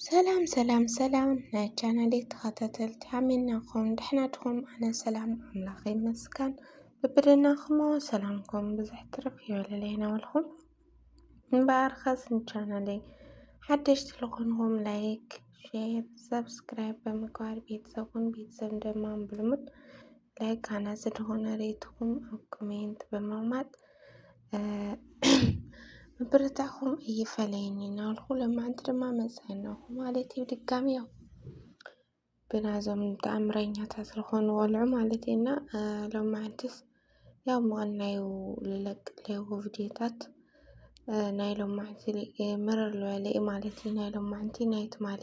ሰላም ሰላም ሰላም ናይ ቻናሌ ተኸታተልቲ ኣሚናኹም ድሕና ድኹም? ኣነ ሰላም ኣምላኽ ይመስገን። ብብድናኹም ሰላምኩም ብዙሕ ትርፍ ይበለለይ ናበልኩም እምበኣር ኸስ ንቻናሌይ ሓደሽቲ ዝኾንኹም ላይክ፣ ሼር፣ ሰብስክራይብ ብምግባር ቤተሰቡን ቤተሰብ ድማ ብልሙድ ላይክ ሃናፂ ዝኾነ ሬትኹም ኣብ ኮሜንት ብምቕማጥ ምብርታዕኹም እይፈለየኒ እናበልኩ ለማዓንቲ ድማ መፅናናኹ ማለት እዩ ድጋሚ ያው ብናዞም ተኣምረኛታት ዝኾኑ ወልዑ ማለት እና ሎማዓንትስ ያው ምቕናዩ ልለቅ ለይኹ ቪድዮታት ናይ ሎማዓንቲ መረር ዝበለ እዩ ማለት እዩ ናይ ሎማዓንቲ ናይ ትማሊ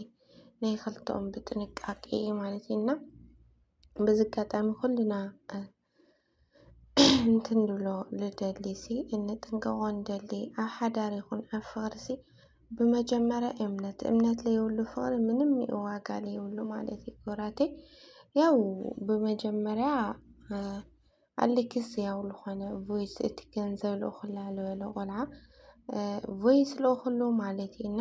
ናይ ኸልተኦም ብጥንቃቄ ማለት እዩ እና በዚ ኣጋጣሚ ኩልና እንትንብሎ ልደሊሲ እንጥንቀቆ ንደሊ ኣብ ሓዳር ይኹን ኣብ ፍቅሪሲ ብመጀመርያ እምነት እምነት ለይብሉ ፍቅሪ ምንም ዋጋ ለይብሉ ማለት እዩ ክብራቴ ያው ብመጀመርያ ኣሊክስ ያው ልኾነ ቮይስ እቲ ገንዘብ ልእኹላ ልበለ ቆልዓ ቮይስ ልእኹሉ ማለት እዩ እና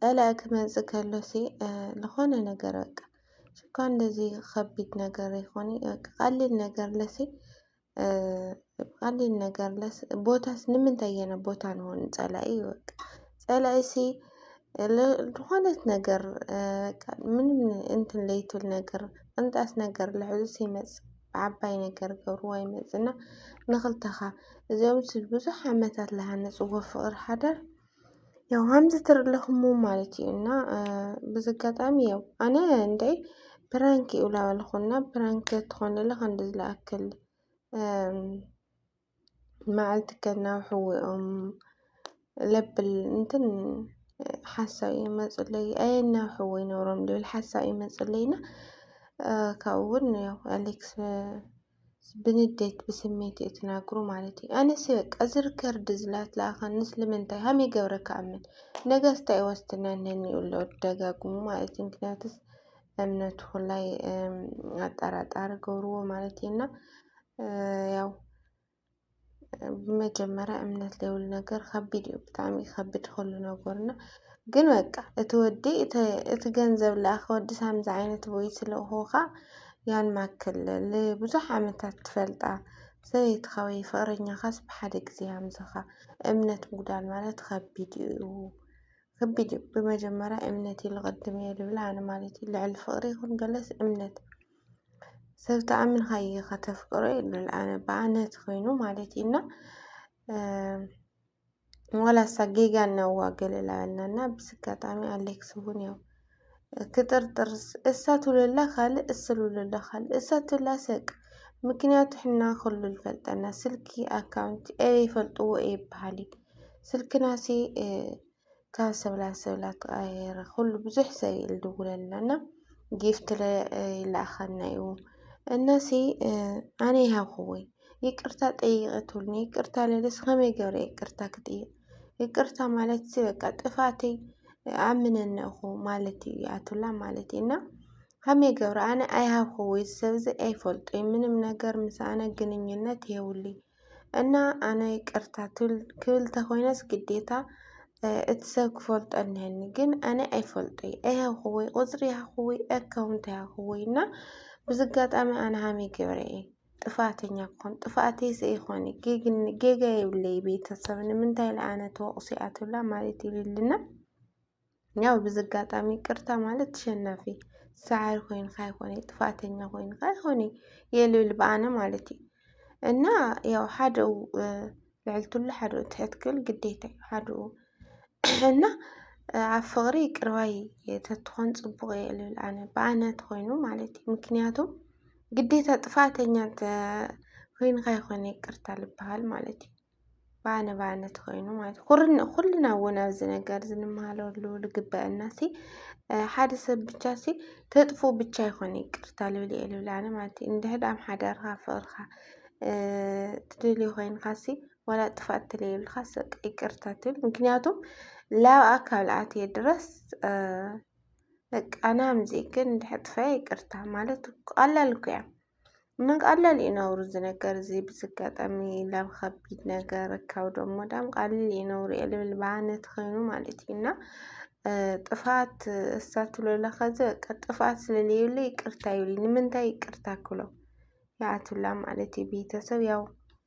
ጸላኢ ክመጽእ ከሎሲ ዝኾነ ነገር በቃ ሽኳ እንደዚ ከቢድ ነገር ይኾን ቀሊል ነገር ለሲ ቀሊል ነገር ለስ ቦታስ ንምንታይ የነ ቦታ ንሆን ጸላኢ በቃ ጸላኢሲ ዝኾነት ነገር ምንም እንትን ለይትል ነገር ቅንጣስ ነገር ልሕዙስ ይመጽእ ብዓባይ ነገር ገብርዎ ይመጽእና ንኽልተኻ እዚኦምስ ብዙሕ ዓመታት ልሃነጽዎ ፍቕሪ ሓዳር ያው ሃምዚ ትርኢ ኣለኹሞ ማለት እዩ እና ብዝጋጣሚ ያው ኣነ እንደይ ብራንክ እዩ ላበልኹና ብራንክ ትኾንለ ከንዲ ዝለኣክል መዓልቲ ከናብ ሕወኦም ለብል እንትን ሓሳብ እዩ መፅለይ ኣየናብ ሕወ ይነብሮም ልብል ሓሳብ እዩ መፅለይና ካብኡውን ያው ኣሌክስ ብንዴት ብስሜት እዩ ትናግሩ ማለት እዩ። ኣነሲ በቃ እዚ ርከርድ ዝላት ለኣኸን ንስልምንታይ ሃም ይገብረ ከኣምን ነገስታ ይወስድና ነኒ እሎ ደጋግሙ ማለት እዩ። ምክንያቱስ እምነቱ ላይ ኣጠራጣሪ ገብርዎ ማለት እዩና ያው ብመጀመርያ እምነት ዘይብሉ ነገር ከቢድ እዩ ብጣዕሚ ይከብድ ኩሉ ነገር እና ግን በቃ እቲ ወዲ እቲ ገንዘብ ለኣኸ ወዲ ሳምዚ ዓይነት ቦይ ስለሆኻ ያን ማክል ብዙሕ ዓመታት ትፈልጣ ሰበይትኻ ወይ ፍቕረኛኻስ ብሓደ ግዜ ሃምዝኻ እምነት ምጉዳል ማለት ከቢድ እዩ። ከቢድ እዩ ብመጀመርያ እምነት ኢሉ ቅድም እየ ዝብል ኣነ ማለት እዩ ልዕሊ ፍቕሪ ይኹን ገለስ እምነት ሰብ ተኣምንካ ኢኻ ተፍቅሮ ይብል ኣነ ብኣነ ተኾይኑ ማለት እዩ እና ዋላ እሳ ጌጋ እናዋ ገለላ በልና እና ብስ ኣጋጣሚ ኣሌክስ እውን ያው ክጥርጥር እሳ ትብለላ ካልእ እስ ትብለላ ካልእ እሳ ትብላ ሰቅ ምክንያቱ ሕና ኩሉ ዝፈልጠና ስልኪ ኣካውንቲ ኤ ይፈልጥዎ ኤ ይበሃል እዩ ስልክናሲ ካብ ሰብ ናብ ሰብ እናተቐያየረ ኩሉ ብዙሕ ሰብ እዩ ዝድውለልና እና ጊፍት ይለኣኸልና እዩ እናሲ ኣነ ይሃብክዎይ ይቅርታ ጠይቂ ትብሉኒ ይቅርታ ልብለስ ከመይ ገይረ ይቅርታ ክጥይቅ ይቅርታ ማለት ሲ በቃ ጥፋተይ ኣምነኒ እኹ ማለት እዩ ኣቱላ ማለት እዩ እና ከመይ ገብረ ኣነ ኣይሃብክዎይ ሰብ እዚ ኣይፈልጦይ ምንም ነገር ምስ ኣነ ግንኙነት የብሉይ እና ኣነ ይቅርታ ክብል ተኮይነስ ግዴታ እቲ ሰብ ክፈልጦ እኒሀኒ ግን ኣነ ኣይፈልጦይ ኣይሃብኩዎይ ቁፅሪ ይሃብኩዎይ ኣካውንት ኣይሃብኩዎይ እና ብዚ ኣጋጣሚ ኣነ ሃመይ ገብረ እየ ጥፋኣተኛ ክኾን ጥፋኣተይ ሰ ይኾን ጌጋ የብለይ ቤተሰብ ንምንታይ ለኣነ ተወቅሱ እያ ትብላ ማለት ይልልና ያው ብዚ ኣጋጣሚ ይቅርታ ማለት ተሸናፊ ሰዓሪ ኮይንካ ኣይኮነ ጥፋኣተኛ ኮይንካ ኣይኮነ የልብል ብኣነ ማለት እዩ እና ያው ሓደኡ ልዕልትሉ ሓደኡ ትሕት ክብል ግዴታ እዩ ሓደኡ እና ኣብ ፍቕሪ ይቅርባይ ተትኾን ፅቡቕ እየ ልብል ኣነ ብኣነ ተኾይኑ ማለት እዩ ምክንያቱ ግዴታ ጥፋኣተኛ ኮይንካ ኣይኮነ ይቅርታ ልበሃል ማለት እዩ ባኒ ባኒ ትኾይኑ ማለት ኩልና እውን ኣብዚ ነገር ዝንመሃለሉ ልግበአና ሲ ሓደ ሰብ ብቻ ሲ ተጥፉ ብቻ ይኾነ ይቅርታ ልብል እየ ልብል ኣነ ማለት እዩ እንድሕድ ኣብ ሓዳርካ ፍቅርካ ትደልዮ ኮይንካ ሲ ዋላ ጥፋእ ተለይብልካ ሰቅ ይቅርታ ትብል ምክንያቱ ላብ ኣካል ኣትየ ድረስ በቃ ናምዚ ግን እንድሕድ ጥፋኤ ይቅርታ ማለት ቀላል እኮ እያ ቀለል እዩ ነውሩ እዚ ነገር እዚ ብዝጋጠሚ ላብ ከቢድ ነገር ካብ ደሞ ዳም ቀልል እዩ ነውሩ እየ ልብል ብዓነት ኸይኑ ማለት እዩ እና ጥፋት እሳትሎለ ኸዚ በቃ ጥፋት ስለለዩለ ይቅርታ ይብሊ ንምንታይ ይቅርታ ክሎ ይኣትብላ ማለት እዩ ቤተሰብ ያው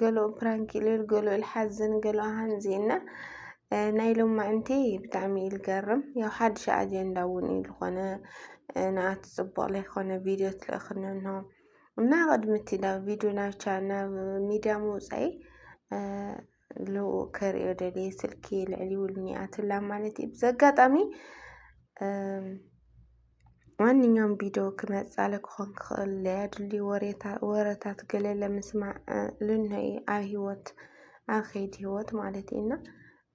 ገለኡ ፕራንክ ኢሉ ኢሉ ገለኡ ልሓዝን ገለኡ ሃንዚ እና ናይ ሎማዕንቲ ብጣዕሚ እዩ ልገርም ያው ሓድሽ ኣጀንዳ እውን እዩ ዝኾነ ንኣቲ ፅቡቕ ለይኮነ ቪድዮ ትልእኽኒ እንሆ እና ቅድሚ እቲ ናብ ቪድዮ ናብ ቻ ናብ ሚድያ ምውፃኢ ልኡ ከርእዮ ደልየ ስልኪ ልዕሊ ውልኒ ኣትላ ማለት እዩ ብዘጋጣሚ ማንኛውም ቢዶ ክመጻለ ክኾን ክኽእል ለያድሊ ወረታት ገለ ለምስማዕ ልንሆኢ ኣብ ህይወት ኣብ ኸይድ ህይወት ማለት ኢና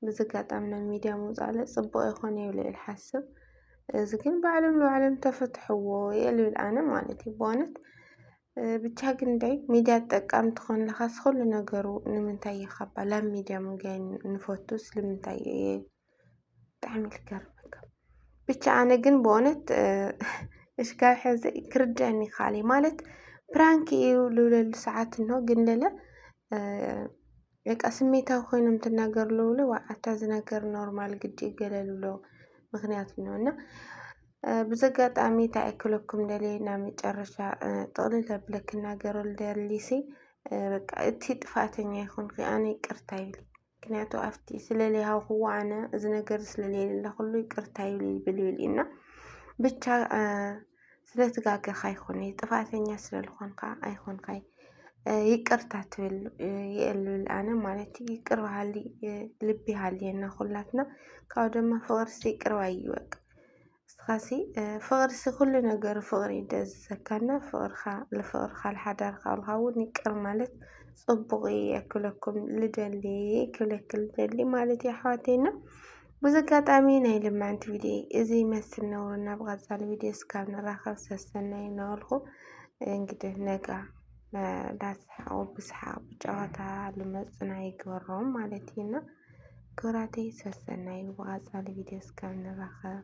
ብዝጋጣም ናብ ሚድያ ምውፃእለ ጽቡቕ ይኾነ ኢለ እየ ልሓስብ እዚ ግን ባዕሎም ንባዕሎም ተፈትሕዎ እየ ልብል ኣነ ማለት እዩ ብዋነት ብቻ ግን ዳይ ሚድያ ጠቃሚ ትኾን ለኻስ ኹሉ ነገሩ ንምንታይ እየኻባ ላብ ሚድያ ምጋይ ንፈቱ ስልምንታይ እየ ብጣዕሚ ልገርመካ ብቻ ኣነ ግን ብእውነት እስካብ ሕዚ ክርድአኒ ይከኣል እዩ ማለት ፕራንክ እዩ ልብለሉ ሰዓት እንሆ ግን ለለ በቃ ስሜታዊ ኮይኖም ትናገሩ ለውለ ኣታ ዝነገር ኖርማል ግዲ ይገለሉሎ ምክንያት ነው እና ብዚ ኣጋጣሚ እንታይ ኣይክለኩም ደልየ ናብ መጨረሻ ጥቕልል ኣቢለ ክናገረሉ ደሊሲ በቃ እቲ ጥፋኣተኛ ይኹንኺ ኣነ ይቅርታ ይብል ምክንያቱ ኣብቲ ስለለይሃውክዎ ኣነ እዚ ነገር ስለለየለለኹሉ ይቅርታ ይብል ይብል ይብል እና ብቻ ስለትጋገኻ ይኹን ጥፋተኛ ስለልኾንካ ኣይኾንካይ ይቅርታ ትብል የእልብል ኣነ ማለት ይቅር በሃሊ ልቢ ሃልየና ኩላትና ካብኡ ድማ ፍቅርሲ ይቅር ባይ እዩ በቃ እስኻሲ ፍቅሪሲ ኩሉ ነገሩ ፍቅሪ እዩ ደዚዘካ እና ፍቅርካ ልፍቅርካ ልሓዳርካ ቆልካ እውን ይቅር ማለት ፅቡቅ እዩ የክለኩም ልደሊ ክለክ ልደሊ ማለት እዩ ኣሕዋተይ እና ብዙ ኣጋጣሚ ናይ ልማንቲ ቪድዮ እዚ ይመስል ነውሩ እና ብቀፃሊ ቪድዮ እስካብ ንራኸብ ሰሰናይ እናበልኩ እንግዲህ ነጋ ዳስሓቁ ብስሓቅ ብጨዋታ ልመፁና ይግበሮም ማለት እዩ እና ክብራተይ ሰሰናዩ ብቀፃሊ ቪድዮ እስከ ንራከብ።